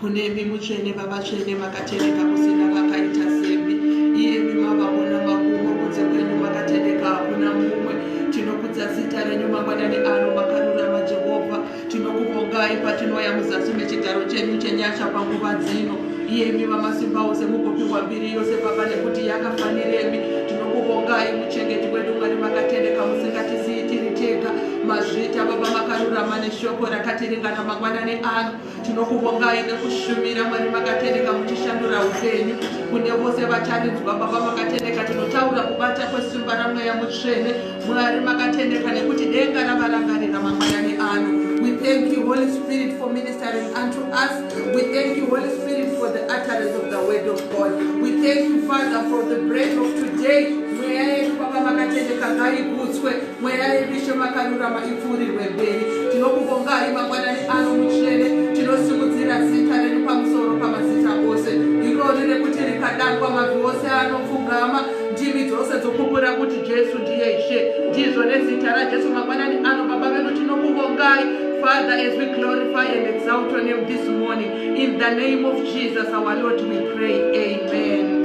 Kunemi mutsvene vavatsvene makatereka kusina vakaita semi iyemi mavavona makumo kunze kwenyu makatereka hakuna mumwe tinokudza zita renyu mangwanani ano makarurama jehovha tinokuvongai patinoya muzasi mechigaro chenyu chenyasha panguva dzino iyemi vamasimba ose mugopiwa mbiri yose baba nekuti yakafaniremi tinokuvongai muchengeti wedu mwari makatereka musingatisiitiri tega mazvita baba makarurama neshoko rakatiringana mangwanani ano Tinokuvongai nekushumira Mwari makatendeka muchishandura upenyu kune vose vacharinzwa Baba makatendeka tinotaura kubata kwesimba ramweya mutsvene Mwari makatendeka nekuti denga ravarangarira mangwanani ano We thank you Holy Spirit for ministering unto us We thank you Holy Spirit for the utterance of the word of God We thank you Father for the bread of today mweya yedu Baba makatendeka ngaikudzwe Mweya yeBishop akarurama ipfuurirwe mberi. Tinokuvongai mangwanani ano mutsvene. Tinosimudzira zita renyu pamusoro pamazita ose. Irori rekuti rikadanwa mabvi ose anopfugama. Ndimi dzose dzokupura kuti Jesu ndiye Ishe. Ndizvo nezita raJesu mangwanani ano Baba vedu tinokuvongai. Father, as we glorify and exalt your name this morning, in the name of Jesus, our Lord, we pray. Amen.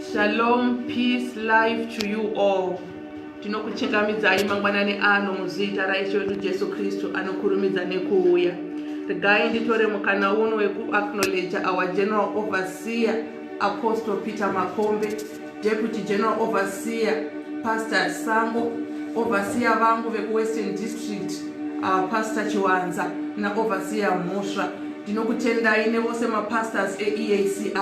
Shalom, peace, life to you all. Tinokuchingamidzai mangwanani ano muzita raIshe wedu Jesu Kristu anokurumidza nekuuya. Regai nditore mukana uno wekuacknowledge our General Overseer Apostle Peter Makombe, Deputy General Overseer Pastor Sango, Overseer vangu vekuWestern District uh, Pastor Chiwanza naOverseer Mhosva. Ndinokutendai nevose mapastors eEACI.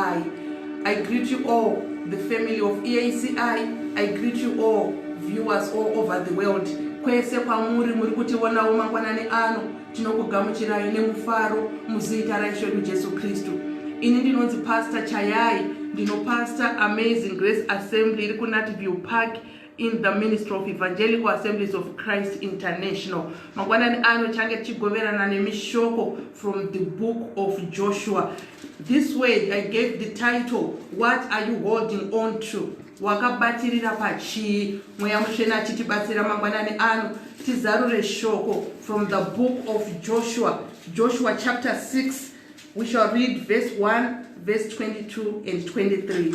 I greet you all the family of EACI. I greet you all viewers all over the world. Kwese kwamuri muri kutiwonawo mangwanani ano tinokugamuchirai nemufaro muzita raishe wedu Jesu Kristu. Ini ndinonzi Pastor Chayai, ndinopastor Amazing Grace Assembly iri kuNatview Park in the ministry of evangelical assemblies of christ international mangwanani ano change tichigoverana nemishoko from the book of joshua this way i gave the title what are you holding on to wakabatirira pachii mweya mutsvene achitibatsira mangwanani ano tizarure shoko from the book of joshua joshua chapter 6 we shall read verse 1 verse 22 and 23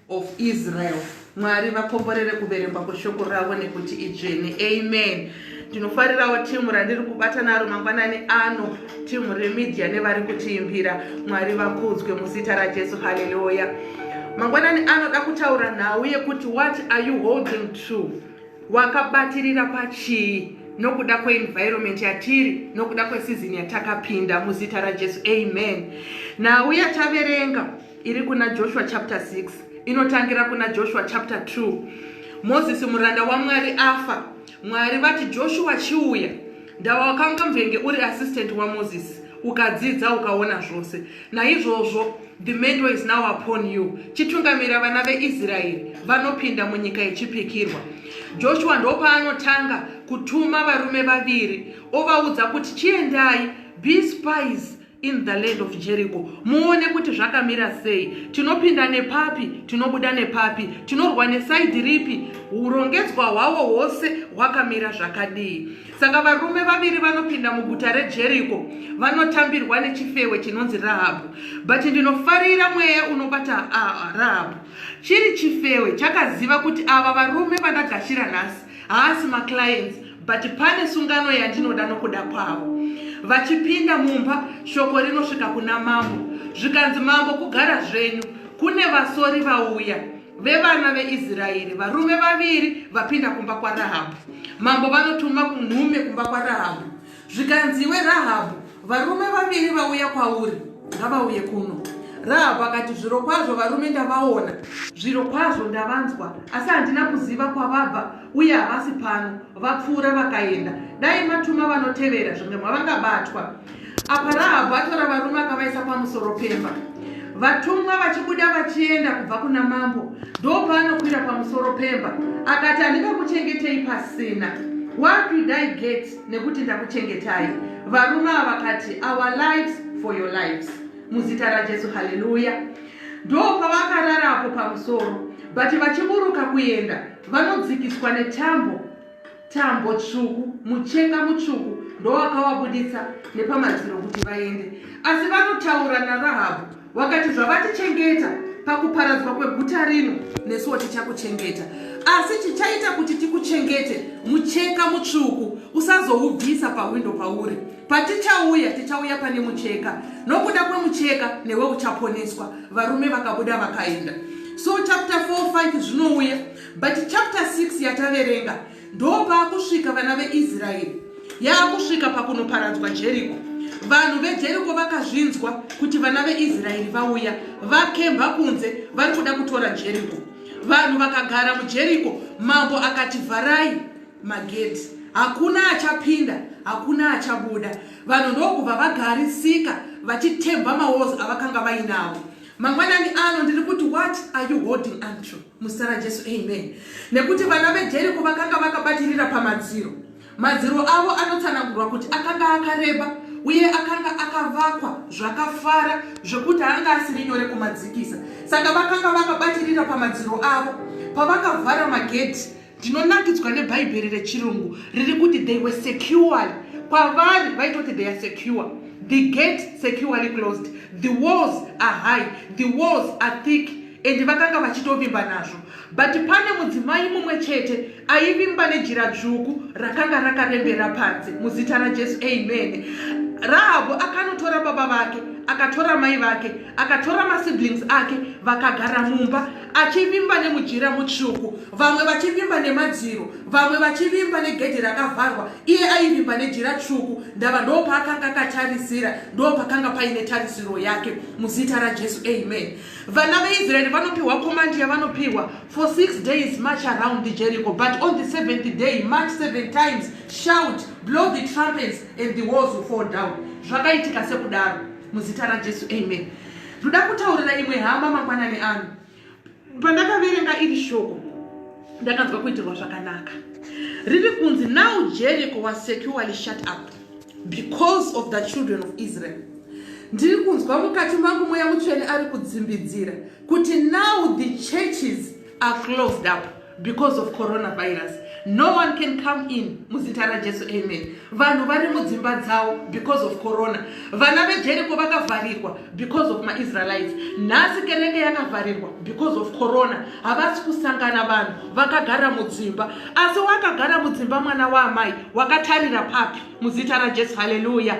of Israel. Mwari vakomborere kuverengwa kweshoko ravo nekuti idzvene. Amen. Ndinofarirawo timu randiri kubata naro mangwanani ano, timu remedia nevari kutiimbira. Mwari vakudzwe muzita raJesu. Haleluya. Mangwanani anoda kutaura nhau yekuti what are you holding to? Wakabatirira pachii? nokuda kweenvironment yatiri nokuda kwesizini yatakapinda muzita rajesu amen nhau yataverenga iri kuna joshua chapter 6 inotangira kuna joshua chapter 2 mozisi muranda wamwari afa mwari vati joshua chiuya ndawakanga mvenge uri assistant wamozisi ukadzidza ukaona zvose naizvozvo the mendo is now upon you chitungamira vana veisraeri vanopinda munyika yechipikirwa joshua ndopaanotanga kutuma varume vaviri ovaudza kuti chiendai be spies in the land of jericho muone kuti zvakamira sei tinopinda nepapi tinobuda nepapi tinorwa nesaidi ripi urongedzwa hwawo hwose hwakamira zvakadii saka varume vaviri vanopinda muguta rejericho vanotambirwa nechifewe chinonzi rahabhu but ndinofarira mweya unobata ah, rahabhu chiri chifewe chakaziva kuti ava varume vandagashira nhasi haasi maclients but pane sungano yandinoda nokuda kwavo vachipinda mumba shoko rinosvika kuna mambo zvikanzi mambo kugara zvenyu kune vasori vauya vevana veisraeri varume vaviri vapinda kumba kwarahabhu mambo vanotuma kunhume kumba kwarahabhu Zvikanzi, Iwe Rahabhu, varume vaviri vauya kwauri, ngavauye kuno. Rahabhu akati, Zvirokwazvo varume ndavaona. Zvirokwazvo ndavanzwa, asi handina kuziva kwavabva, uye havasi pano. Vapfuura vakaenda. Dai matuma vanotevera, zvimwe mwavangabatwa. Apa Rahabhu atora varume akavaisa pamusoro pemba. Vatumwa vachibuda vachienda kubva kuna mambo, ndopaanokwira pamusoro pemba. Akati, Handingakuchengetei pasina. Where did I get? nekuti ndakuchengetai varume ava vakati our lives for your lives muzita rajesu haleluya ndopavakararapo pamusoro but vachiburuka kuenda vanodzikiswa netambo tambo tsvuku mucheka mutsvuku ndowakawabuditsa nepamadziro kuti vaende asi vanotaura narahabhu Wakati zvavatichengeta pakuparadzwa kweguta rino nesuwo tichakuchengeta asi chichaita kuti tikuchengete mucheka mutsvuku usazoubvisa pahwindo pauri patichauya tichauya pane mucheka nokuda kwemucheka newe uchaponeswa varume vakabuda vakaenda so chapter 45 zvinouya but chapter 6 yataverenga Ndopaakusvika vana veIsraeri yaakusvika pakunoparadzwa Jeriko. Vanhu veJeriko vakazvinzwa kuti vana veIsraeri vauya, vakemba kunze, vari kuda kutora Jeriko. Vanhu vakagara muJeriko, mambo akati vharai magedhi, hakuna achapinda, hakuna achabuda. Vanhu ndokubva vagarisika vachitemba mawozi avakanga vainawo. mangwanani ano ndiri kuti what are you holding unto muzita rajesu amen nekuti vana vejeriko vakanga vakabatirira pamadziro madziro avo anotsanangurwa kuti akanga akareba uye akanga akavakwa zvakafara zvekuti anga asiri nyore kumadzikisa saka vakanga vakabatirira pamadziro avo pavakavhara magedhi ndinonakidzwa nebhaibheri rechirungu riri kuti they were secured kwavari vaitoti they are secure the gate securely closed the walls are high the walls are thick and vakanga vachitovimba nazvo but pane mudzimai mumwe chete aivimba nejira dzvuku rakanga rakarembera panze muzita rajesu amen rahabhu akanotora baba vake akatora mai vake akatora masiblings ake vakagara mumba achivimba nemujira mutsvuku vamwe vachivimba nemadziro vamwe vachivimba negedhi rakavharwa iye aivimba nejira tsvuku ndava ndo paakanga akatarisira ndo pakanga paine tarisiro yake muzita rajesu amen vana veisraeri vanopiwa komandi yavanopiwa for six days march around the jericho but on the seventh day march seven times shout blow the trumpets and the walls will fall down zvakaitika sekudaro muzita rajesu amen ndoda kutaurira imwe hama mangwanani ano pandakaverenga iri shoko ndakanzwa kuitirwa zvakanaka riri kunzi now jericho was securely shut up because of the children of israel ndiri kunzwa mukati mangu mweya mutsvene ari kudzimbidzira kuti now the churches are closed up because of coronavirus no one can come in muzita rajesu amen vanhu vari mudzimba dzavo because of corona vana vejeriko vakavharirwa because of maisraelites nhasi kereke yakavharirwa because of corona havasi kusangana vanhu vakagara mudzimba asi wakagara mudzimba mwana waamai wakatarira papi muzita rajesu haleluya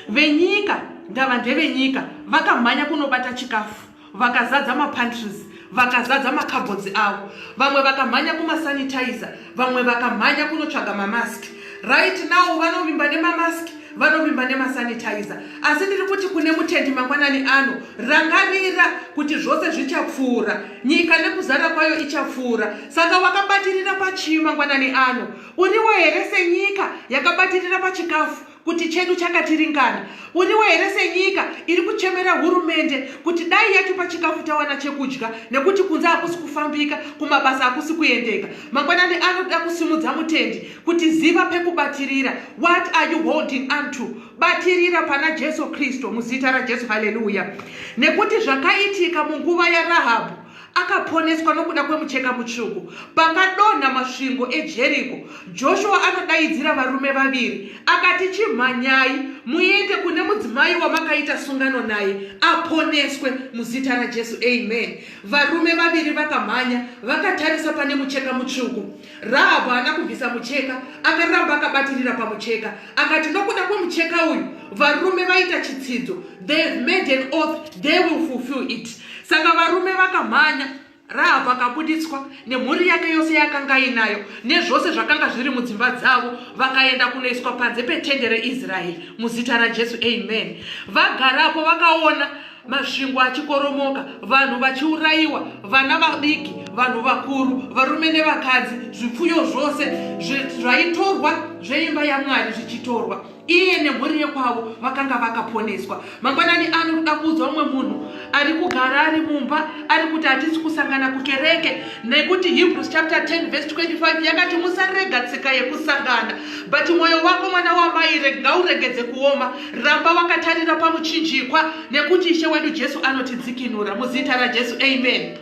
venyika ndava ndevenyika vakamhanya kunobata chikafu vakazadza mapantries vakazadza makabhodzi avo vamwe vakamhanya kumasanitizer vamwe vakamhanya kunotsvaga mamask right now vanovimba nemamask vanovimba nemasanitizer asi ndiri kuti kune mutendi mangwanani ano rangarira kuti zvose zvichapfuura nyika nekuzara kwayo ichapfuura saka wakabatirira pachii mangwanani ano uriwo here senyika yakabatirira pachikafu kuti chedu chakatiringana uriwo here senyika iri kuchemera hurumende kuti dai yatipa chikafu tawana chekudya nekuti kunze hakusi kufambika kumabasa hakusi kuendeka mangwanani anoda kusimudza mutendi kuti ziva pekubatirira what are you holding unto batirira pana jesu kristu muzita rajesu haleluya nekuti zvakaitika munguva yarahabhu akaponeswa nokuda kwemucheka mutsvuku. Pakadonha masvingo eJeriko, Joshua anodaidzira varume vaviri akati, Chimhanyai muende kune mudzimai wamakaita sungano naye aponeswe muzita raJesu. Amen. Varume vaviri vakamhanya vakatarisa pane mucheka mutsvuku. Rahabhu haana kubvisa mucheka, akaramba akabatirira pamucheka. Akati, Nokuda kwemucheka uyu, varume vaita chitsidzo. They have made an oath, they will fulfill it. Saka varume vakamhanya, Rahabhu akabuditswa nemhuri yake yose yakanga inayo nezvose zvakanga zviri mudzimba dzavo, vakaenda kunoiswa panze petende reIsraeri muzita raJesu. Amen. Vagarapo vakaona Masvingo achikoromoka, vanhu vachiurayiwa, vana vadiki, vanhu vakuru, varume nevakadzi, zvipfuyo zvose zvaitorwa zveimba yaMwari zvichitorwa. Iye nemhuri yekwavo vakanga vakaponeswa. Mangwanani ano kuda kuudza umwe munhu ari kugara ari mumba ari kuti hatisi kusangana kukereke nekuti Hebrews chapter 10 verse 25 yakati musarega tsika yekusangana but mwoyo wako mwana wamai ngauregedze kuoma Ramba wakatarira pamuchinjikwa nekuti Ishe wedu Jesu anotidzikinura muzita raJesu. Amen.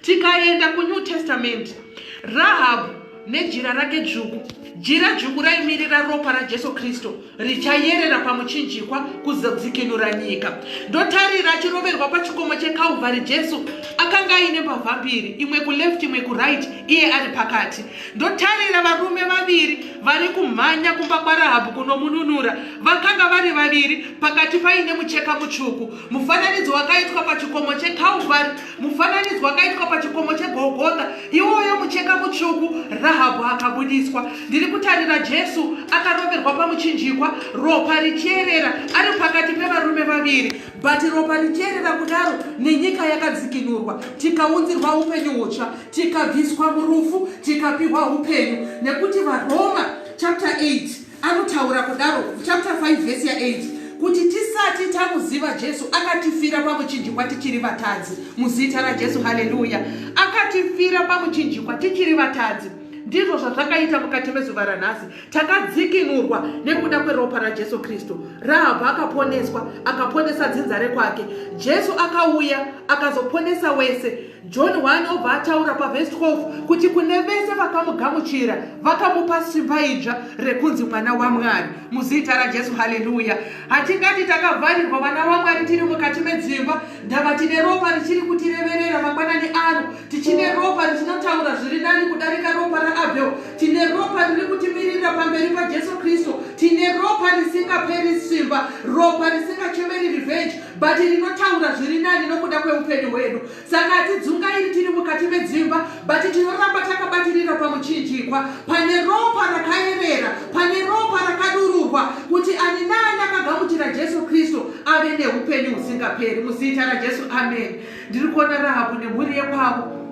Tikaenda kuNew Testament, Rahabhu nejira rake dzvuku. Jira dzvuku raimirira ropa raJesu Kristu richayerera pamuchinjikwa kuzodzikinura nyika. Ndotarira achiroverwa pachikomo cheKalvari Jesu akanga aine mbavha mbiri, imwe kuleft imwe kuright, iye ari pakati. Ndotarira varume vaviri vari kumhanya kumba kwaRahabhu kunomununura. Vakanga vari vaviri pakati paine mucheka mutsvuku. Mufananidzo wakaitwa pachikomo cheKalvari, mufananidzo wakaitwa pachikomo cheGolgotha. Iwoyo mucheka mutsvuku, Rahabhu akabudiswa. Ndiri kutarira Jesu akaroverwa pamuchinjikwa, ropa richierera, ari pakati pevarume vaviri. But ropa richierera kudaro nenyika yakadzikinurwa, tikaunzirwa upenyu hutsva. tikabviswa murufu tikapihwa upenyu nekuti varoma chapter 8 anotaura kudaro chapter 5 vhesi ya8 kuti tisati tamuziva jesu akatifira pamuchinjikwa tichiri vatadzi muzita rajesu haleluya akatifira pamuchinjikwa tichiri vatadzi ndizvo zvazvakaita mukati mezuva ranhasi takadzikinurwa nekuda kweropa rajesu kristu rahabha akaponeswa akaponesa dzinza rekwake jesu akauya akazoponesa wese John waanobva ataura pavhesi 12 kuti kune vese vakamugamuchira vakamupa simba idzva rekunzi mwana wamwari muzita rajesu haleluya hatingati takavharirwa vana vamwari tiri mukati medzimba ndava tine ropa richiri kutireverera mangwanani ano tichine ropa richinotaura zviri nani kudarika ropa raabhel tine ropa riri kutimirira pamberi pajesu kristu tine ropa risingaperi simba ropa risingachemeri revenge bhati rinotaura zviri nani nokuda kweupenyu hwedu saka hatidzungairi tiri mukati medzimba bhati tinoramba takabatirira pamuchinjikwa pane ropa rakayerera pane ropa rakadururwa kuti ani naani akagamuchira jesu kristu ave neupenyu husingaperi muzita rajesu amen ndiri kuona rahabhu nemhuri yekwavo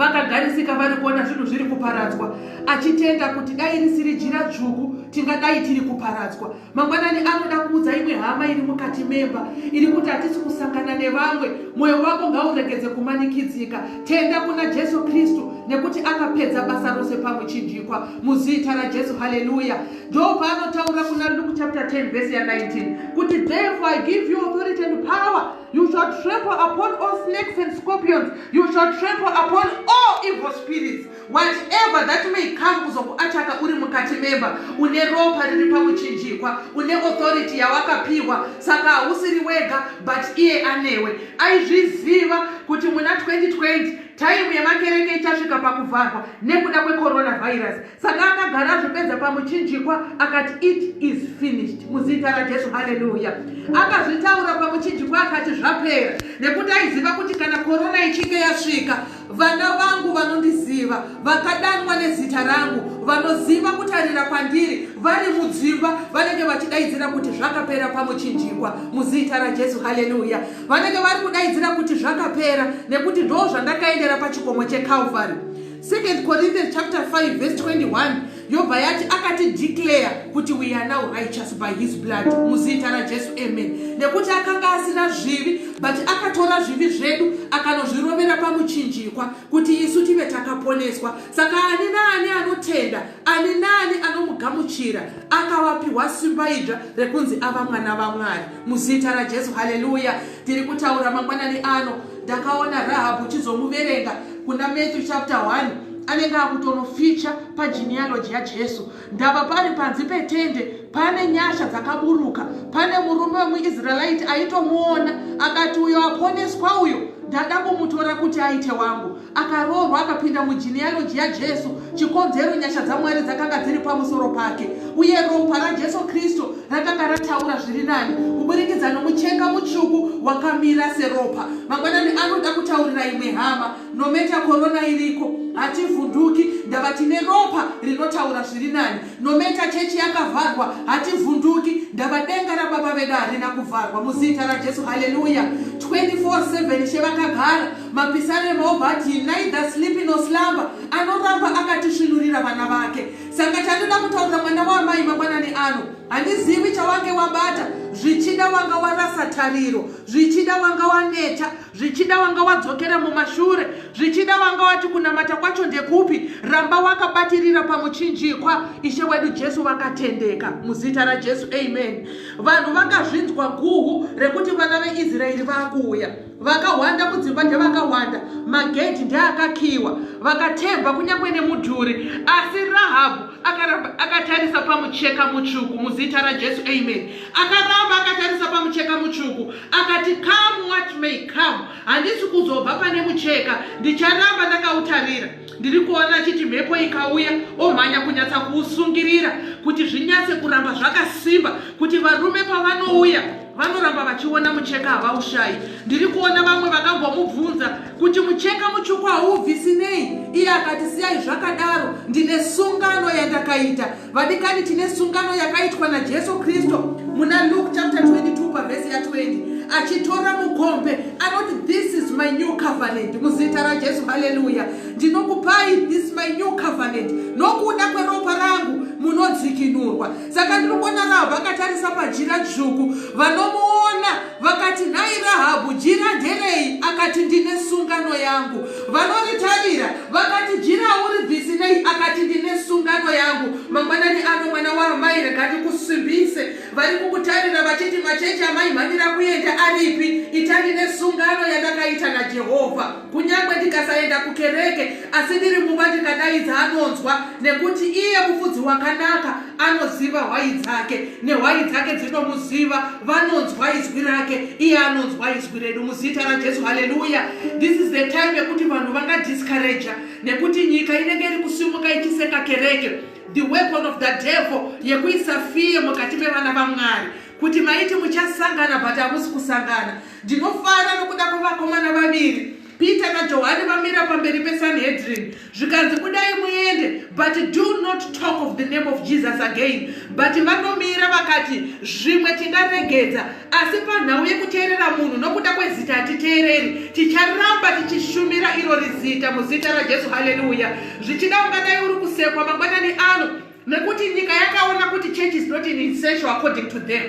vakagarisika vari kuona zvinhu zviri kuparadzwa achitenda kuti dai risiri jira dzvuku tingadai tiri kuparadzwa mangwanani anoda kuudza imwe hama iri mukati memba iri kuti hatisi kusangana nevamwe mwoyo wako ngauregedze kumanikidzika tenda kuna jesu kristu nekuti akapedza basa rose pamuchinjikwa muzita rajesu haleluya ndo paanotaura kuna luke chapter 10 vhesi ya 19 kuti therefore i give you authority and power you shall trample upon all snakes and scorpions you shall trample upon all evil spirits whatever that may come kuzokuataka uri mukati memba une ropa riri pamuchinjikwa une authority yawakapiwa saka hausiri wega but iye anewe aizviziva kuti muna 2020 taimu yemakereke ichasvika pakuvharwa nekuda kwecoronavirus saka akagara azvipedza pamuchinjikwa akati it is finished muzita rajesu haleluya akazvitaura pamuchinjikwa akati zvapera nekuti aiziva kuti kana korona ichinge yasvika Vana vangu vanondiziva, vakadanwa nezita rangu, vanoziva kutarira kwandiri, vari mudzimba vanenge vachidaidzira kuti zvakapera pamuchinjikwa muzita raJesu. Haleluya! Vanenge vari kudaidzira kuti zvakapera, nekuti ndo zvandakaendera pachikomo cheKalvari. 2 Corinthians chapter 5 verse 21 yobva yati akati declare kuti we are now righteous by his blood muzita rajesu amen nekuti akanga asina zvivi but akatora zvivi zvedu akanozvirovera pamuchinjikwa kuti isu tive takaponeswa saka ani naani anotenda ani naani anomugamuchira akawapiwa simba idzva rekunzi ava mwana vamwari muzita rajesu haleluya tiri kutaura mangwanani ano ndakaona rahabhu chizomuverenga kuna matthew chapter 1 anenge akutonoficha pagenealogy yajesu ndava pari panzi petende pane nyasha dzakaburuka pane murume wemuisraelite aitomuona akati uyo aponeswa uyo ndada kumutora kuti aite wangu akaroorwa akapinda mugenealogy yajesu chikonzero nyasha dzamwari dzakanga dziri pamusoro pake uye ropa rajesu kristu rakanga rataura zviri nani kuburikidza nomucheka mutsvuku wakamira seropa mangwanani anoda kutaurira imwe hama nometa korona iriko hativhunduki ndava tine ropa rinotaura zviri nani nometa chechi yakavharwa hativhunduki ndava denga rababa vedu harina kuvharwa muzita rajesu haleluya 24 she vakagara mapisarema obati neither sleepy no slumber anoramba akatisvinurira vana vake Saka chandoda kutaurira mwana waamai mangwanani ano, handizivi chawange wabata. Zvichida wanga warasa tariro, zvichida wanga waneta, zvichida wanga wadzokera mumashure, zvichida wanga wati kunamata kwacho ndekupi. Ramba wakabatirira pamuchinjikwa. Ishe wedu Jesu vakatendeka. Muzita raJesu, amen. Vanhu vakazvinzwa guhu rekuti vana veIsraeri vakuuya. vakahwanda mudzimba ndevakahwanda magedhi ndeakakiiwa vakatemba kunyange nemudhuri asi rahabhu akaramba akatarisa pamucheka mutsvuku muzita rajesu amen akaramba akatarisa pamucheka mutsvuku akati come what may come handisi kuzobva pane mucheka ndicharamba ndakautarira ndiri kuona achiti mhepo ikauya omhanya kunyatsa kuusungirira kuti zvinyatse kuramba zvakasimba kuti varume pavanouya vanoramba vachiona mucheka havaushayi ndiri kuona vamwe vakambomubvunza kuti mucheka mutsvuku haubvisi nei iye akati siyai zvakadaro ndine sungano yandakaita vadikani tine sungano yakaitwa najesu kristu muna luke chapter 22 pavhesi ya 20 achitora mukombe anoti this is my new covenant muzita rajesu haleluya ndinokupai this my new covenant nokuda kweropa rangu munodzikinurwa saka ndiri kuona rahabhu akatarisa pajira dzvuku vanomuona vakati nhai rahabhu jira nderei akati ndine sungano yangu vanoritarira vakati jira uri bhisi nei akati ndine sungano yangu mangwanani ano mwana waamai regati kusimbise vari kukutarira vachiti machechi amaimhanyira kuenda aripi itandine sungano yandakaita najehovha Kunyange ndikasaenda kukereke, asi ndiri mumba ndikadaidza anonzwa, nekuti iye mufudzi wakanaka anoziva hwai dzake, nehwai dzake dzinomuziva, vanonzwa izwi rake, iye anonzwa izwi redu muzita raJesu. Haleluya! This is the time yekuti vanhu vangadiscourager, nekuti nyika inenge iri kusimuka ichiseka kereke, the weapon of the devil yekuisa fear mukati mevana vaMwari. kuti maiti muchasangana but hamusi kusangana ndinofara nokuda kwevakomana vaviri peter najohani vamira pamberi pesanhedrin zvikanzi kudai muende but do not talk of the name of jesus again but vanomira vakati zvimwe tingaregedza asi panhau yekuteerera munhu nokuda kwezita hatiteereri ticharamba tichishumira iro rizita muzita rajesu haleluya zvichida ungadai uri kusekwa mangwanani ano Nekuti nyika yakaona kuti church is not in essential according to them.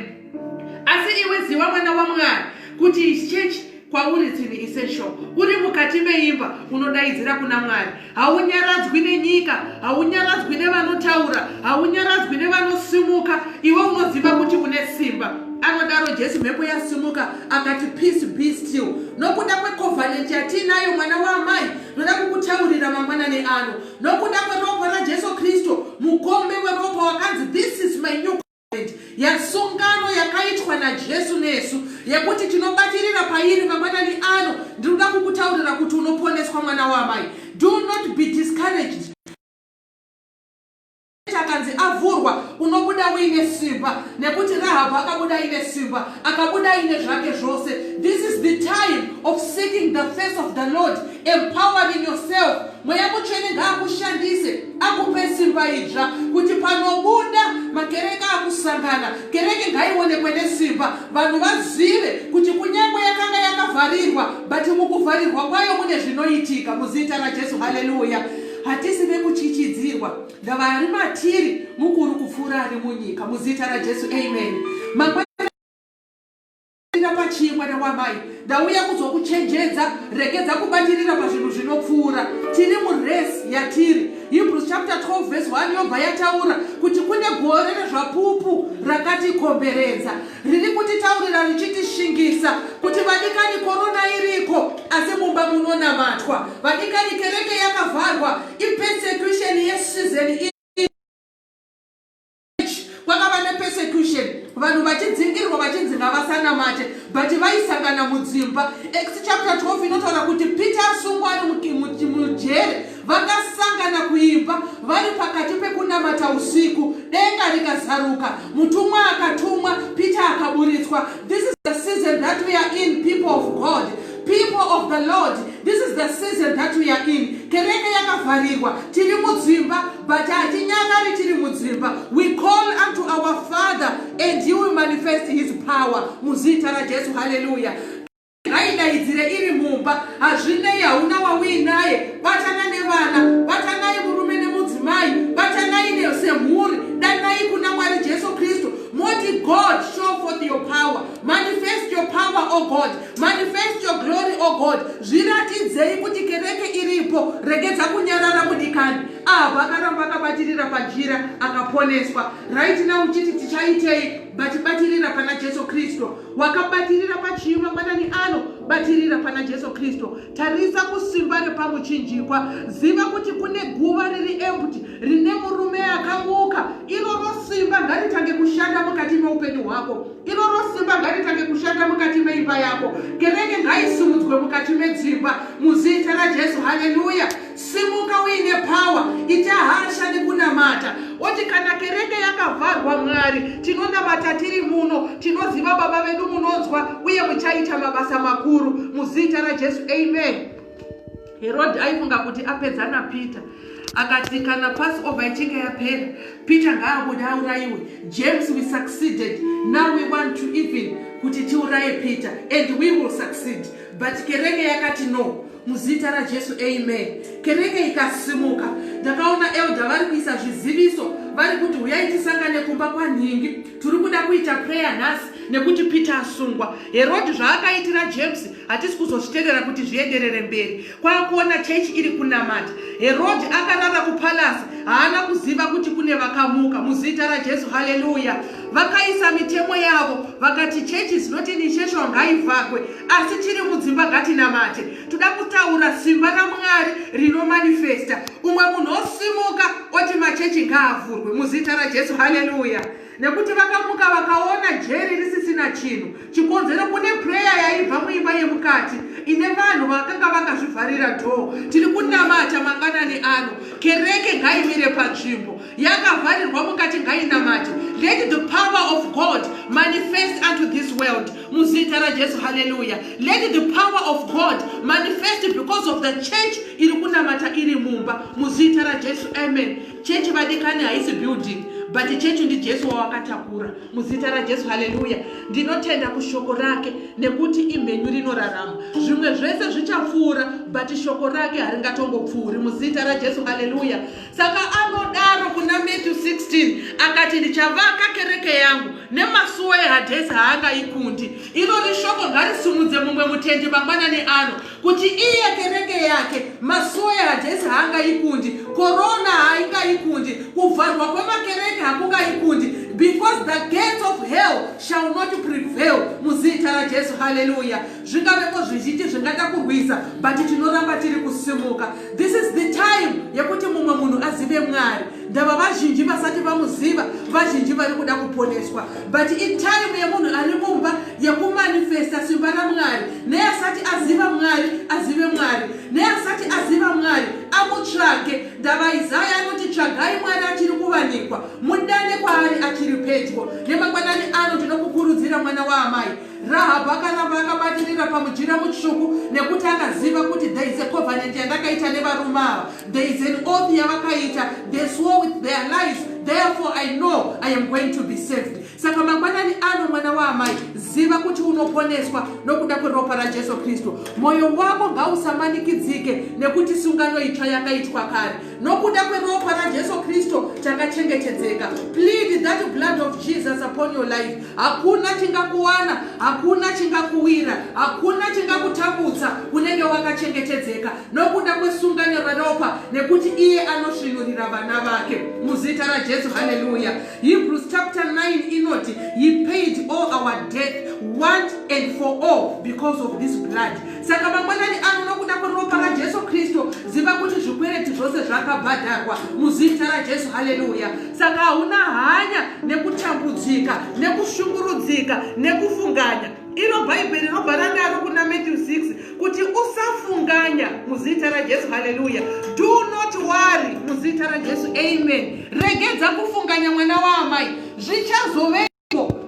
Asi iwe ziwa mwana waMwari kuti church kwauri tsini essential. Uri mukati meimba unodaidzira kuna Mwari. Haunyaradzwi nenyika, haunyaradzwi nevanotaura, haunyaradzwi nevanosimuka. Iwe unoziva kuti une simba. Anodaro Jesu mhepo yasimuka akati peace be still. Nokuda kwecovenant yatiinayo mwana waamai, ndoda kukutaurira mangwanani ano. nokuda kweropa rajesu kristu mukombe weropa wakanzi this is my new yasungano yakaitwa najesu nesu yekuti tinobatirira pairi mangwanani ano ndiri kuda kukutaurira kuti unoponeswa mwana wamai do not be discouraged akanzi avhurwa unobuda uine simba nekuti rahabhu akabuda aine simba akabuda aine zvake zvose this is the time of seeking the face of the lord empowering yourself mweya mutsvene ngaakushandise akupe simba idzva kuti panobuda makereke akusangana kereke ngaionekwe nesimba vanhu vazive kuti kunyange yakanga yakavharirwa but mukuvharirwa kwayo mune zvinoitika muzita rajesu haleluya hatisi vekuchichidzirwa Ndavari matiri mukuru kupfuura ari munyika muzita raJesu amen. Mangwana pachii mwana wamai ndauya kuzokuchenjedza regedza kubatirira pazvinhu zvinopfuura tiri muresi yatiri hebrews chapter 12 vese 1 yobva yataura kuti kune gore rezvapupu rakatikomberedza riri kutitaurira richitishingisa kuti vadikani korona iriko asi mumba munonamatwa vadikani kereke yakavharwa ipersecution yesizeni kwakava nepersecution vanhu vachidzingirwa vachinzi ngavasanamate but vaisangana mudzimba ex chapter 12 inotaura kuti peter asungwa ari mujere Vakasangana kuimba vari pakati pekunamata usiku, denga rikazaruka, mutumwa akatumwa, Peter akaburitswa. This is the season that we are in, people of God, people of the Lord. This is the season that we are in. Kereke yakavharirwa, tiri mudzimba, but hatinyarari tiri mudzimba. We call unto our Father and he will manifest his power. Muzita raJesu, hallelujah. ngaidaidzire iri mumba hazvinei hauna wauinaye batana nevana batanai murume nemudzimai batanai nesemhuri danai kuna mwari jesu kristu moti god show forth your power manifest your power o oh god manifest your glory o oh god zviratidzei kuti kereke iripo regedza kunyarara mudikani abva akaramba akabatirira pajira akaponeswa right now uchiti tichaitei batibatirira pana jesu kristu wakabatirira pachivi mangwanani ano batirira pana jesu kristu tarisa kusimba repamuchinjikwa ziva kuti kune guva riri embuti rine murume akamuka iroro simba ngaritange kushanda mukati meupenyu hwako iroro simba ngaritange kushanda mukati meimba yako kereke ngaisimudzwe mukati medzimba muzita rajesu haleluya Simuka uine power, ita hasha nekunamata. Oti kana kereke yakavharwa Mwari, tinonamata tiri muno, tinoziva Baba vedu munonzwa uye muchaita mabasa makuru muzita raJesu. Amen. Herode aifunga kuti apedza naPeter akati kana passover ichinge yapera peter ngaabude aurayiwe james we succeeded now we want to even kuti tiuraye peter and we will succeed But kereke yakati no muzita rajesu amen kereke ikasimuka ndakaona elda vari kuisa zviziviso vari kuti huyai tisangane kumba kwanhingi tiri kuda kuita prayer nhasi nekuti peter asungwa herodi zvaakaitira james hatisi kuzozviterera kuti zvienderere mberi kwakuona chechi iri kunamata herodi akarara kupalasi haana kuziva kuti kune vakamuka muzita rajesu haleluya vakaisa mitemo yavo vakati chechi zinoti initiation ngaivhagwe asi chiri mudzimba ngatinamate toda kutaura simba ramwari rinomanifesta umwe munhu osimuka oti machechi ngaavhurwe muzita rajesu haleluya nekuti vakamuka vakaona jeri risisina chinhu chikonzero kune pureya yaibva muimba yemukati ine vanhu vakanga vakazvivharira dhoo tiri kunamata manganani ano kereke ngaimire panzvimbo yakavharirwa mukati ngainamate let the power of god manifest unto this world muzita rajesu haleluya let the power of god manifest because of the church iri kunamata iri mumba muzita rajesu amen Chechi vadikani haisi building but chechi ndijesu wawakatakura muzita rajesu haleluya ndinotenda kushoko rake nekuti imhenyu rinorarama zvimwe zvese zvichapfuura but shoko rake haringatongopfuuri muzita rajesu haleluya saka anodaro kuna matthew 16 akati ndichavaka kereke yangu nemasuwo ehadhesi haangaikundi iro rishoko ngarisimudze mumwe mutendi mangwanani ano kuti iye kereke yake masoya hajesu haangaikundi korona haingaikundi kuvharwa kwemakereke hakungaikundi because the gates of hell shall not prevail muzita rajesu haleluya zvingavepo zvizhinji zvingada kurwisa but tinoramba tiri kusimuka this is the time yekuti mumwe munhu azive mwari ndava vazhinji vasati vamuziva vazhinji vari kuda kuponeswa but itime yemunhu ari mumba yekumanifesta simba ramwari neasati aziva mwari azive mwari neasati aziva mwari amutsvage ndava izaya anoti tsvagai mwari achiri kuvanikwa mudane kwaari achiri pedyo nemangwanani ano tinokukurudzira mwana waamai Rahabhu akaramba akabatirira pamujira mutsvuku nekuti akaziva kuti there is a covenant yandakaita nevarume ava. There is an oath yavakaita. They swore with their lives. Therefore I know I am going to be saved. Saka mangwanani ano mwana waamai, ziva kuti unoponeswa nokuda kweropa raJesu Kristu. Moyo wako ngausamanikidzike nekuti sungano itsva yakaitwa kare. nokuda kweropa rajesu kristu takachengetedzeka plead that blood of jesus upon your life hakuna chingakuwana hakuna chingakuwira hakuna chingakutambudza unenge wakachengetedzeka nokuda kwesungano reropa nekuti iye anosvinurira vana vake muzita rajesu haleluya hebrews chapter 9 inoti he paid all our death once and for all because of this blood saka mangwanani ano nokuda kweropa rajesu kristu ziva kuti zvikwereti zvose zvakabhadharwa muzita rajesu haleluya saka hauna hanya nekutambudzika nekushungurudzika nekufunganya iro bhaibheri roba ranaro kuna matthew 6 kuti usafunganya muzita rajesu haleluya do not worry muzita rajesu amen regedza kufunganya mwana waamai zvichazove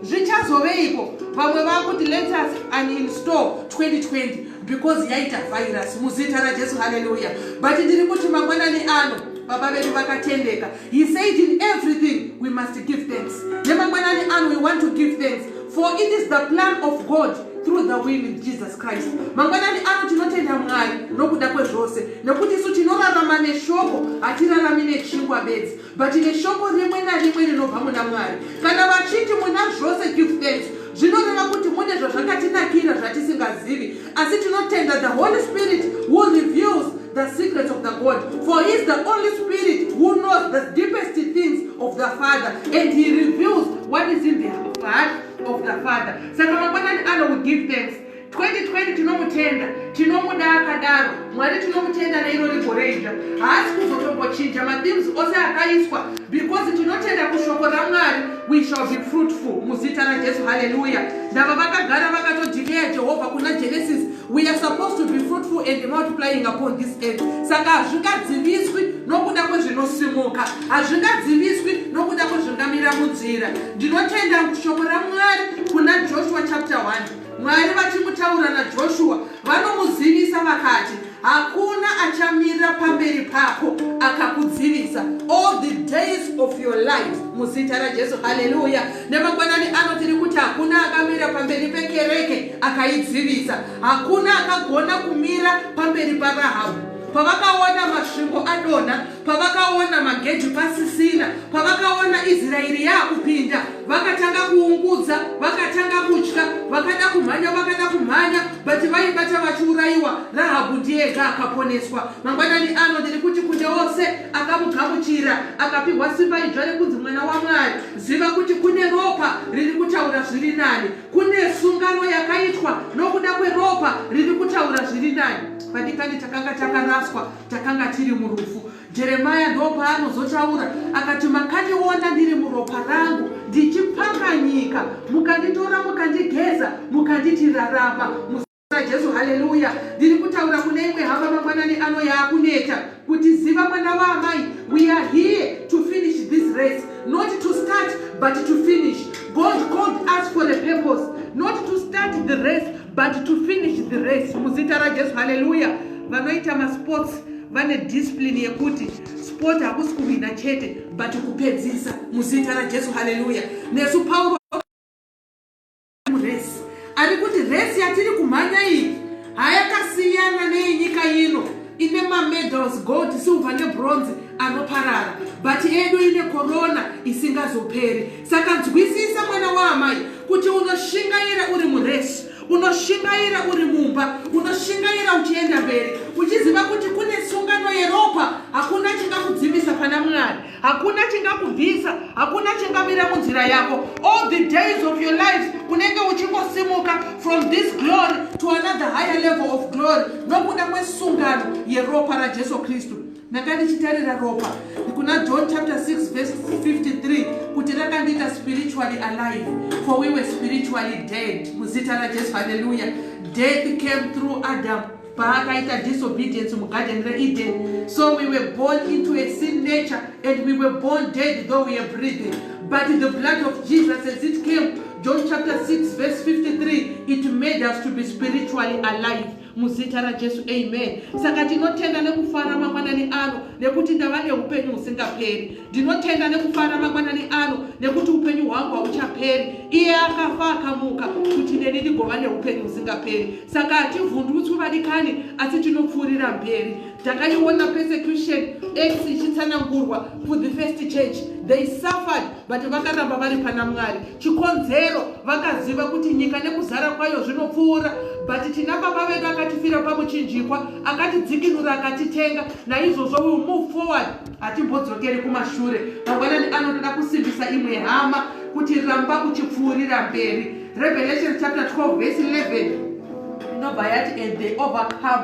zvichazoveiko vamwe vakuti let us uninstall 2020 because yaita virus muzita rajesu haleluya but ndiri kuti mangwanani ano baba vedu vakatendeka he said in everything we must give thanks nemangwanani ano we want to give thanks for it is the plan of god through the will in jesus christ mangwanani ano tinotenda mwari nokuda kwezvose nekuti isu tinorarama neshoko hatirarami nechingwa bedzi But neshoko rimwe narimwe rinobva muna Mwari. Kana vachiti muna zvose give thanks, zvinoreva kuti mune zvazvakatinakira zvatisingazivi. Asi tinotenda the Holy Spirit who reveals the secrets of the God. For he is the only spirit who knows the deepest things of the Father and he reveals what is in the heart of the Father. Saka mangwanani ano we give thanks. 2020 tinomutenda tinomuda akadaro mwari tinomutenda neiro rigoreija haasi kuzotombochinja mathemes ose akaiswa because tinotenda kushoko ramwari we shall be fruitful muzita rajesu haleluya ndava vakagara vakatodikeya jehovha kuna genesis we are supposed to be fruitful and multiplying upon this earth saka hazvingadziviswi nokuda kwezvinosimuka hazvingadziviswi nokuda kwezvingamira munzira ndinotenda shoko ramwari kuna joshua chapter 1 Mwari vachimutaura naJoshua vanomuzivisa vakati, hakuna achamira pamberi pako akakudzivisa all the days of your life muzita raJesu. Haleluya! Nemangwanani ano tiri kuti hakuna akamira pamberi pekereke akaidzivisa, hakuna akagona kumira pamberi paRahabhu pavakaona masvingo adonha pavakaona magejo pasisina pavakaona israeri yaakupinda vakatanga kuungudza vakatanga kutya vakada kumhanya vakada kumhanya but vaibata vachiurayiwa rahabhu ndiyega akaponeswa mangwanani ano ndiri kuti kune ose akamugamuchira akapiwa simba idzva rekunzi mwana wamwari ziva kuti kune ropa riri kutaura zviri nani kune sungano yakaitwa nokuda kweropa riri kutaura zviri nani pandikani takanga takaraswa takanga tiri murufu jeremaya ndoopaanozotaura akati makandiona ndiri muropa rangu ndichipakanyika mukanditora mukandigeza mukanditi rarama jesu haleluya ndiri kutaura kune imwe hama mangwanani ano yaakuneta kuti ziva mwana waamai we are here to finish this race not to start but to finish god called us for the purpose not to start the race but to finish the race muzita rajesu haleluya vanoita masports vane discipline yekuti sport hakusi kuhwina chete but kupedzisa muzita rajesu haleluya nesu pauro muresi ari kuti resi yatiri kumhanya iyi hayakasiyana neyenyika ino ine mamedals gold silver nebronze anoparara but edu ine korona isingazoperi saka nzwisisa mwana waamai kuti unoshingaira uri muresi unoshingaira uri mumba unoshingaira uchienda mberi uchiziva kuti kune sungano yeropa hakuna chingakudzivisa pana mwari hakuna chingakubvisa hakuna chingamira munzira yako all the days of your life unenge uchingosimuka from this glory to another higher level of glory nokuda kwesungano yeropa rajesu kristu Ndanga ndichitarira ropa kuna John chapter 6 verse 53 kuti rakandiita spiritually alive for we were spiritually dead muzita raJesu haleluya death came through Adam paakaita disobedience mugarden reEden so we were born into a sin nature and we were born dead though we are breathing but the blood of Jesus as it came John chapter 6 verse 53 it made us to be spiritually alive muzita rajesu amen saka tinotenda nekufara mangwanani ano nekuti ndava neupenyu husingaperi ndinotenda nekufara mangwanani ano nekuti upenyu hwangu hauchaperi iye akafa akamuka kuti neni ndigova neupenyu husingaperi saka hativhundutswi vadikani asi tinopfuurira mberi takaiona persecution x ichitsanangurwa for the first church they suffered but vakaramba vari pana mwari chikonzero vakaziva kuti nyika nekuzara kwayo zvinopfuura but tina baba vedu akatifira pamuchinjikwa akatidzikinura akatitenga naizvozvo will move forward hatimbodzokeri kumashure mangwanani anotoda kusimbisa imwe hama kuti ramba uchipfuurira mberi revelation chapter 12 vese 11 inobva yati and they overcome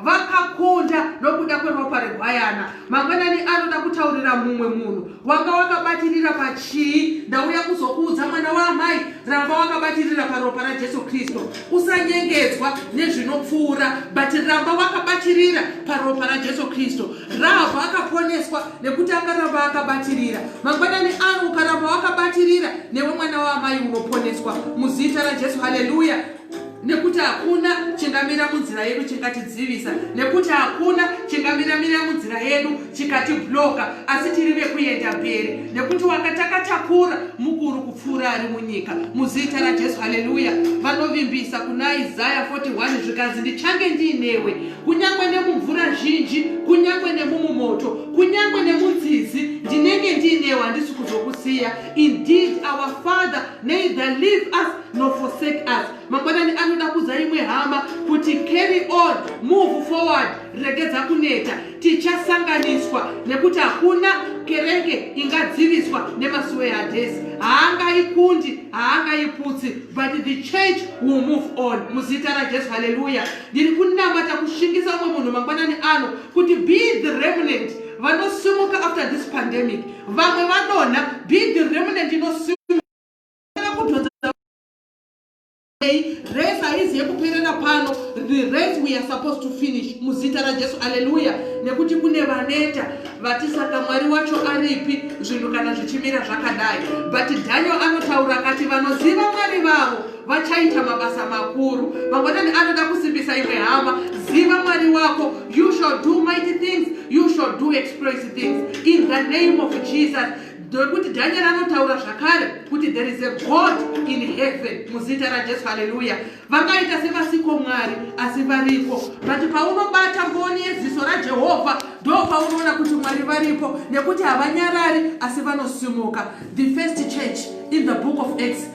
vakakunda nokuda kweropa regwayana mangwanani anoda kutaurira mumwe munhu wanga wakabatirira pachii ndauya kuzokuudza mwana waamai ramba wakabatirira paropa rajesu kristu usanyengedzwa nezvinopfuura but ramba wakabatirira paropa rajesu kristu rahabha akaponeswa nekuti akaramba akabatirira mangwanani ano ukaramba wakabatirira newe mwana waamai unoponeswa muzita rajesu haleluya nekuti hakuna chingamira munzira yedu chingatidzivisa nekuti hakuna chingamiramira munzira yedu chikatibloka asi tiri vekuenda mberi nekuti wakatakatakura mukuru kupfuura ari munyika muzita rajesu haleluya vanovimbisa kuna isaya 41 zvikanzi ndichange ndiinewe kunyange nemumvura zhinji kunyange nemumumoto kunyange nemunzizi ndinenge ndiinewe handisi kuzokusiya indeed our father neither leave us no forsake us mangwanani anoda kuza imwe hama kuti carry on move forward regedza kuneta tichasanganiswa nekuti hakuna kereke ingadziviswa nemasuwe hadhesi haangaikundi haangaiputsi but the church will move on muzita rajesu haleluya ndiri kunamata kushingisa umwe munhu mangwanani ano kuti be the remnant vanosimuka after this pandemic vamwe vanona be the remnant inosimuka race haizi yekuperera pano the race we are supposed to finish muzita rajesu aleluya nekuti kune vaneta vati saka mwari wacho aripi zvinhu kana zvichimira zvakadai but daniel anotaura kati vanoziva mwari vavo vachaita mabasa makuru mangwanani anoda kusimbisa imwe hama ziva mwari wako you shall do mighty things you shall do exploit things in the name of jesus ndokuti dhanyeri anotaura zvakare kuti there is a god in heaven muzita rajesu haleluya vangaita sevasiko mwari asi variko but paunobata mboni yeziso rajehovha ndo paunoona kuti mwari varipo nekuti havanyarari asi vanosimuka the first church in the book of acts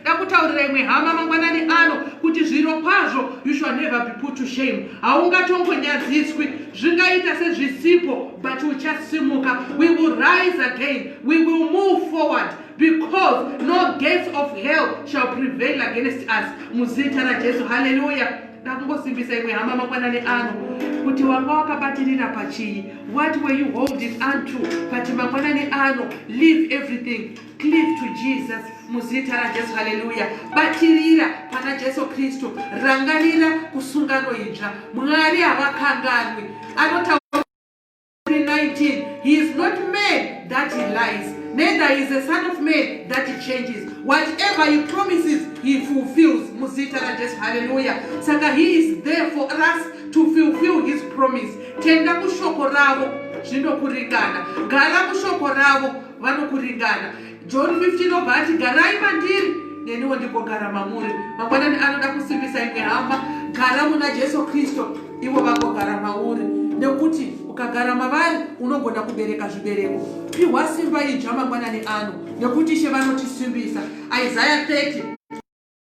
ndakutaurira imwe hama mangwanani ano kuti zviro kwazvo you shall never be put to shame haungatongonyadziswi zvingaita sezvisipo but uchasimuka we will rise again we will move forward because no gates of hell shall prevail against us muzita rajesu halleluya ndakungosimbisa imwe hama mangwanani ano kuti wanga wakabatirira pachii what were you holding unto but mangwanani ano leave everything Cleave to Jesus muzita raJesu haleluya batirira pana Jesu Kristu rangarira kusungano idzva Mwari havakanganwi anota 19 he is not man that he lies neither is a son of man that he changes whatever he promises he fulfills muzita raJesu haleluya saka he is there for us to fulfill his promise tenda kushoko ravo zvinokuringana gara kushoko ravo vanokuringana john 15 obva ati garai mandiri neniwo ndikogara mamuri mangwanani anoda kusimbisa imwe hama gara muna jesu kristu ivo vagogara mauri nekuti ukagara mavari unogona kubereka zvibereko pihwa simba idzva mangwanani ano nekuti ishe vanotisimbisa isaya 30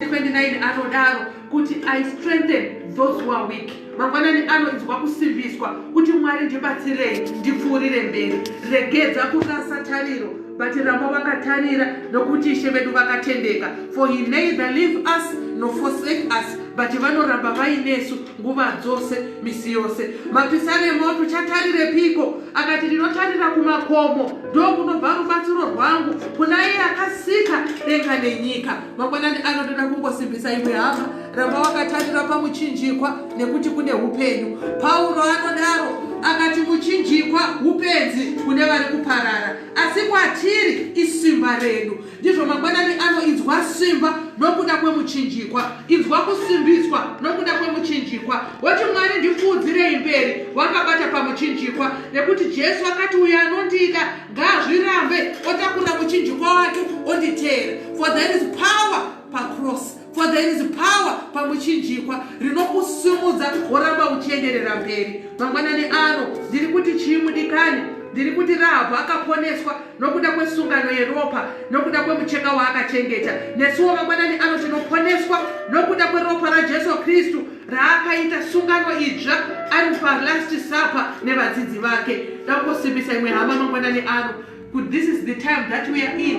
29 anodaro kuti i strengthen those who are weak mangwanani anonzwa kusimbiswa kuti mwari ndibatsirei ndipfuurire mberi regedza kurasa tariro but ramba vakatarira nokuti ishe vedu vakatendeka for he neither leave us no forsake us but vanoramba vainesu nguva dzose misi yose mapisaremo tuchatarire piko akati ndinotarira kumakomo ndokunobva rubatsiro rwangu kuna iye akasika denga nenyika mangwanani ano ndoda kungosimbisa imwe hama ramba wakatarira pamuchinjikwa nekuti kune upenyu pauro anodaro akati muchinjikwa upenzi kune vari kuparara asi kwatiri isimba redu ndizvo mangwanani ano inzwa simba nokuda kwemuchinjikwa inzwa kusimbiswa nokuda kwemuchinjikwa woti mwari ndikuudzirei mberi wakabata pamuchinjikwa nekuti jesu akati uyo anondida ngazvirambe otakura muchinjikwa wake onditeera for there is power pacross for there is power pamuchinjikwa rinokusimudza woramba uchienderera mberi mangwanani ano ndiri kuti chii mudikani ndiri kuti rahabhu akaponeswa nokuda kwesungano yeropa nokuda kwemucheka waakachengeta nesuwo mangwanani ano tinoponeswa nokuda kweropa rajesu kristu raakaita sungano idzva ari palast supper nevadzidzi vake dakosimbisa imwe hama mangwanani ano kuti this is the time that we are in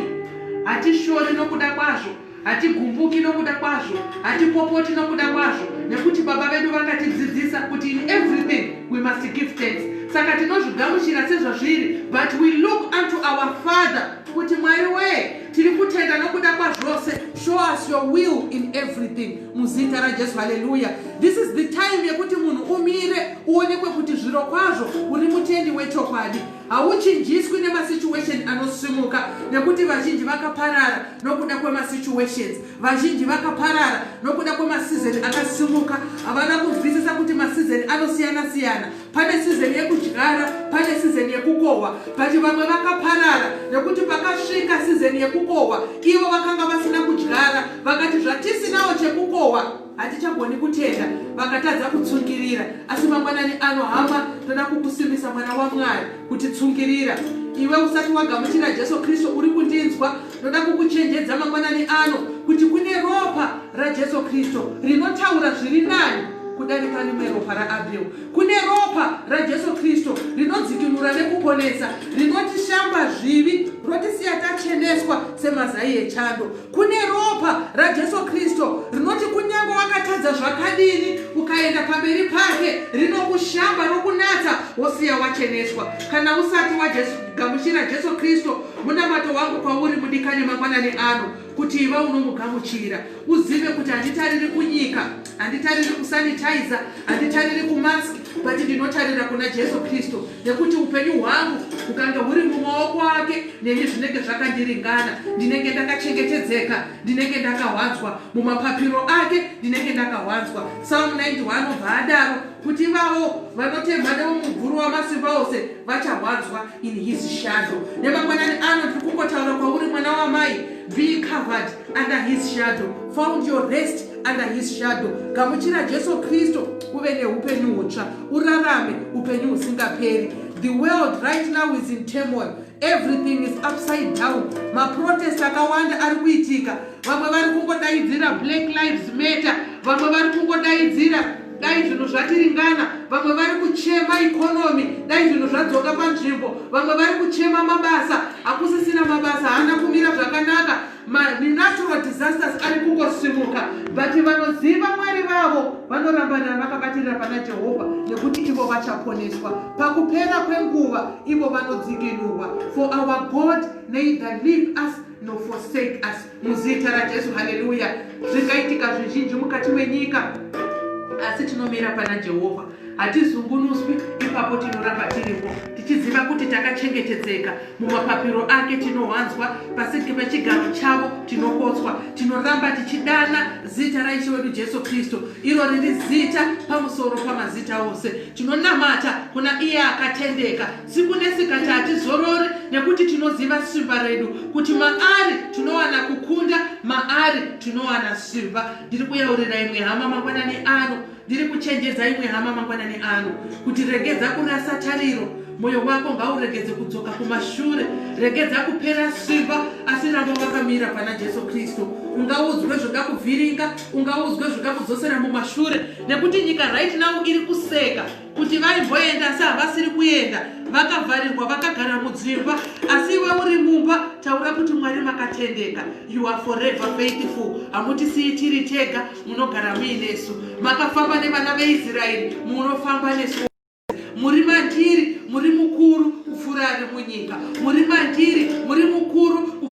hatishori nokuda kwazvo hatigumbuki nokuda kwazvo hatipopoti nokuda kwazvo nekuti baba vedu vakatidzidzisa kuti in everything we must give thanks saka tinozvigamuchira sezvazviri but we look unto our father kuti mwari wee tiri kutenda nokuda kwazvose show us your will in everything muzita rajesu haleluya this is the time yekuti munhu umire uonekwe kuti zviro kwazvo uri mutendi wechokwadi hauchinjiswi nemasituation anosimuka nekuti vazhinji vakaparara nokuda kwemasituations Vazhinji vakaparara nokuda kwemasizeni akasimuka. Havana kunzwisisa kuti masizeni anosiyana-siyana. Pane sizeni yekudyara, pane sizeni yekukohwa. But vamwe vakaparara nekuti pakasvika sizeni yekukohwa, ivo vakanga vasina kudyara. Vakati zvatisinawo chekukohwa, Hatichagoni kutenda, vakatadza kutsungirira. Asi mangwanani ano, hama, toda kukusimbisa mwana waMwari, kuti tsungirira. Iwe usati wagamuchira Jesu Kristu, uri kundinzwa? Ndoda kukuchenjedza mangwanani ano, kuti kune ropa raJesu Kristu rinotaura zviri nani kudarika rimwe ropa raAbel. Kune ropa raJesu Kristu rinodzikinura nekuponesa, rinotishamba zvivi, rotisiya tacheneswa semazai echando. kune ropa rajesu kristu rinoti kunyange wakatadza zvakadini ukaenda pamberi pake rinokushamba rokunatsa wosiya wacheneswa kana usati wagamuchira jesu kristu munamato wangu kwauri mudikani mangwanani ano kuti iva unomugamuchira uzive kuti handitariri kunyika handitariri kusanitizer handitariri kumask but ndinotarira kuna jesu kristu nekuti upenyu hwangu hukange huri mumaoko ake neni zvinenge zvakandiringana ndinenge ndakachengetedzeka ndinenge ndakawanzwa mumapapiro ake ndinenge ndakawanzwa salm 9 anobva adaro kuti ivavo vanotemha nemumubvuru wamasimba ose vachawanzwa in his shadow nemangwanani ano tiri kungotaura kwauri mwana wamai be covered under his shadow found your rest under his shadow gamuchira jesu kristu uve neupenyu hutsva urarame upenyu husingaperi the world right now is in turmoil everything is upside down maprotest akawanda ari kuitika vamwe vari kungodaidzira black lives matter vamwe vari kungodaidzira dai zvinhu zvatiringana vamwe vari kuchema ikonomi dai zvinhu zvadzoka panzvimbo vamwe vari kuchema mabasa hakusisina mabasa haana kumira zvakanaka manatural disasters ari kungosimuka but vanoziva mwari vavo vanorambanira vakabatirira pana jehovha nekuti ivo vachaponeswa pakupera kwenguva ivo vanodzikinurwa for our god neither leave us no forsake us muzita rajesu haleluya zvingaitika zvizhinji mukati menyika asi tinomira pana jehovha Hatizungunuswi, ipapo tinoramba tiripo, tichiziva kuti takachengetedzeka. Mumapapiro ake tinowanzwa, pasi pechigaro chavo tinokotswa. Tinoramba tichidana zita raIshe wedu Jesu Kristu, iro riri zita pamusoro pamazita ose. Tinonamata kuna iye akatendeka siku nesikati, hatizorori nekuti tinoziva simba redu, kuti maari tinowana kukunda, maari tinowana simba. Ndiri kuyaurira imwe hama mangwanani ano Ndiri kuchenjedza imwe hama mangwanani ano kuti regedza kurasa tariro, moyo wako ngauregedze kudzoka kumashure, regedza kupera simba, asi ramba wakamira pana Jesu Kristu. Ungaudzwe zvingakuvhiringa, ungaudzwe zvingakudzosera mumashure, nekuti nyika right now iri kuseka kuti vaimboenda asi havasiri kuenda, vakavharirwa vakagara mudzimba, asi iwe uri mumba, taura kuti Mwari makatendeka, you are forever faithful, hamutisiyi tiri tega. munogara muinesu makafamba nevana veisraeri munofamba nesu muri mandiri muri mukuru kupfuura ari munyika muri mandiri muri mukuru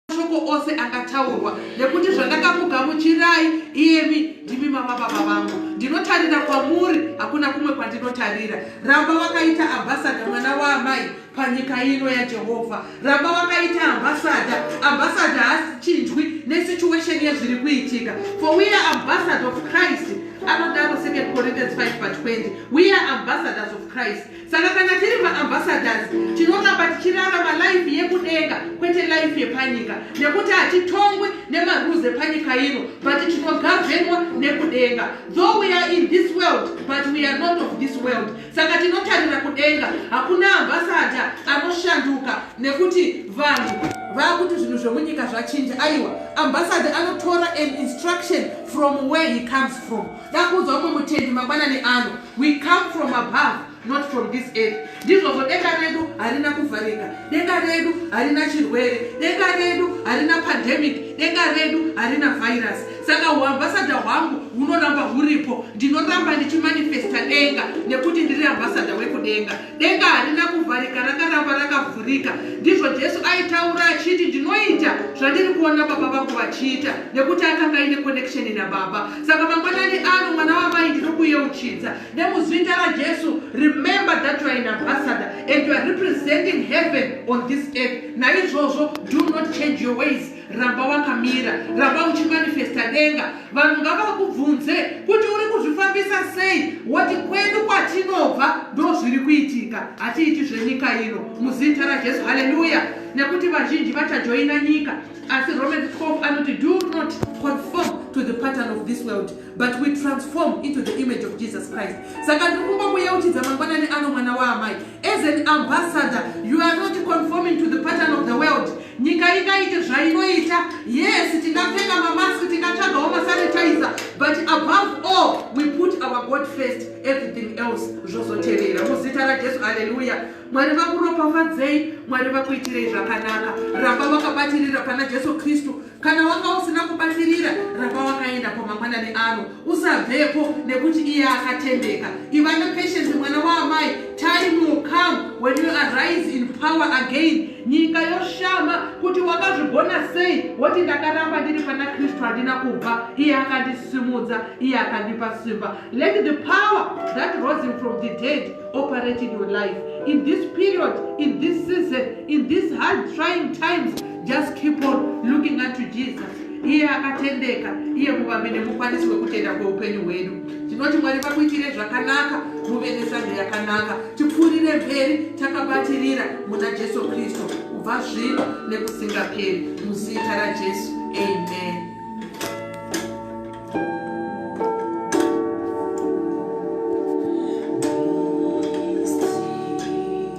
mashoko ose angataurwa nekuti zvandakakugamuchirai iyemi ndimi mama baba vangu ndinotarira kwamuri hakuna kumwe kwandinotarira ramba vakaita ambasada mwana waamai panyika ino yajehovha ramba wakaita ambasada ambasada haachinjwi nesituation yezviri kuitika for we are ambasada of christ anodaro 2 corinthians 5 but 20 we are ambassadors of christ saka kana tiri maambassadors tinongamba tichirarama life yekudenga kwete life yepanyika nekuti hatitongwi nemarules epanyika ino but tinogavenwa nekudenga though we are in this world but we are not of this world saka tinotarira kudenga hakuna ambasada anoshanduka nekuti vanhu vakuti zvinhu zvemunyika zvachinja aiwa ambasada anotora an instruction from where he comes from dakuudza umwe mutendi mangwanani ano we come from above not from this earth ndizvozvo denga redu harina kuvharika denga redu harina chirwere denga redu harina pandemic denga redu harina virus saka huambasada hwangu hunoramba huripo ndinoramba ndichimanifesta denga nekuti ndiri ambasada wekudenga denga harina kuvharika rakaramba rakavhurika ndizvo jesu aitaura achiti ndinoita zvandiri kuona baba vangu vachiita nekuti akanga aine connection nababa saka mangwanani ano mwana wamai ndinokuyeuchidza nemuzita rajesu remember that youare in ambasada and youare representing heaven on this earth naizvozvo do not change your ways ramba wakamira ramba uchimanifesta denga vanhu ngavakubvunze kuti uri kuzvifambisa sei wati kwedu kwatinobva ndo zviri kuitika hatiiti zvenyika ino muzita rajesu haleluya nekuti vazhinji vachajoina nyika asi roman cop anoti do not conform to the pattern of this world but we transform into the image of jesus christ saka ndiri kuba kuyeuchidza mangwanani ano mwana waamai as an ambassador you are not conforming to the pattern of the world nyika ingaite zvainoita yes tingapfeka mamask tingatsvagawo masanitizer but above all we put our god first everything else zvozotevera muzita rajesu haleluya mwari vakuropafadzei mwari vakuitirei zvakanaka ramba vakabatirira pana jesu kristu kana wanga usina kubatirira ramba wakaenda pamangwanani ano usabvepo nekuti iye akatendeka iva nepatience mwana waamai time will come when you arise in power again nyika yoshama kuti wakazvigona sei woti ndakaramba ndiri pana kristu handina kubva iye akandisimudza iye akandipa simba let the power that rose him from the dead operate in your life in this period in this season in this hard trying times just keep on looking unto jesus iye akatendeka iye muvambi nemukwanisi wekutenda kweupenyu hwedu tinoti mwari vakuitire zvakanaka muve nesando yakanaka tipfuurire mberi takabatirira muna jesu kristu kubva zvino nekusingaperi muzita rajesu amen